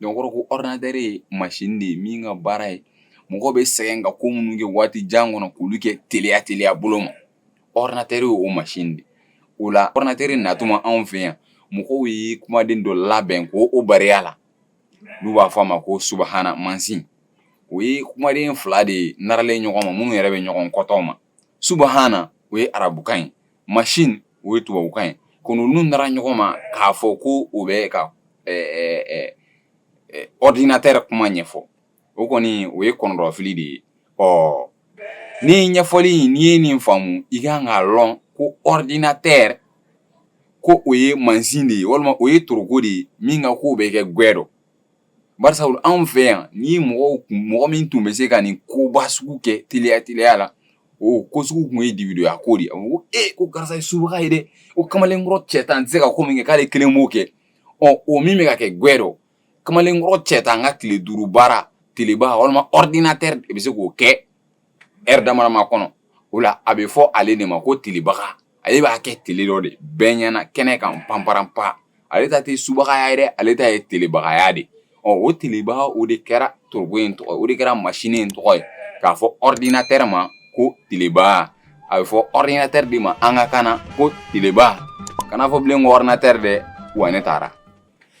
n kɔrɔ ko ɔrdinatɛri ye mansin de ye min ka baara ye mɔgɔ bɛ sɛgɛn ka ko minnu kɛ waati jan kɔnɔ k'olu kɛ teliya teliya bolo ma ɔrdinatɛri o mansin de o la ɔrdinatɛri natuma anw fɛ yan mɔgɔw ye kumaden dɔ labɛn ko o barikaya la n'u b'a fɔ a ma ko subahana mansin o ye kumaden fila de ye naralen ɲɔgɔn ma minnu yɛrɛ bɛ ɲɔgɔn kɔtɔ ma subahana o ye arabukan ye mansin o ye tubabukan ye ko ninnu nara ɲɔgɔn ma k'a fɔ ko o bɛ ka ɔrdinatɛri kuma ɲɛfɔ o kɔni o ye kɔnɔdɔfili de ye ɔ ni ɲɛfɔli n'i ye nin faamumu i ka kan k'a dɔn ko ɔrdinatɛri ko o ye mansin de ye walima o ye toroko de ye min ka ko bɛ kɛ gwɛ dɔ barisa fɔlɔ anw fɛ yan ni mɔgɔ tun mɔgɔ min tun bɛ se ka nin koba sugu kɛ teliya teliya la o ko sugu tun ye dibidɔya ko de ye a ko e ko karisa ye subaga ye dɛ o kamalenkɔrɔ cɛ tan tɛ se ka ko min kɛ k'ale kelen b'o kɛ ɔ o min bɛ ka kɛ gwɛ dɔ kamalenkɔrɔ cɛ tan ka tile duuru baara teleba walima ɔrdinatɛri de bɛ se k'o kɛ ɛri damadama kɔnɔ o la a bɛ fɔ ale de ma ko telebaga ale b'a kɛ tele dɔ de bɛɛ ɲɛna kɛnɛ kan panpran pan ale ta tɛ subagaya ye ale ta ye telebagaya de ɔ o telebaga o de kɛra toroko in tɔgɔ o de kɛra masini in tɔgɔ ye k'a fɔ ɔrdinatɛri ma ko teleba a bɛ fɔ ɔrdinatɛri de ma an ka kan ko teleba kana fɔ bilen ko ɔrdinatɛri dɛ wa ne taara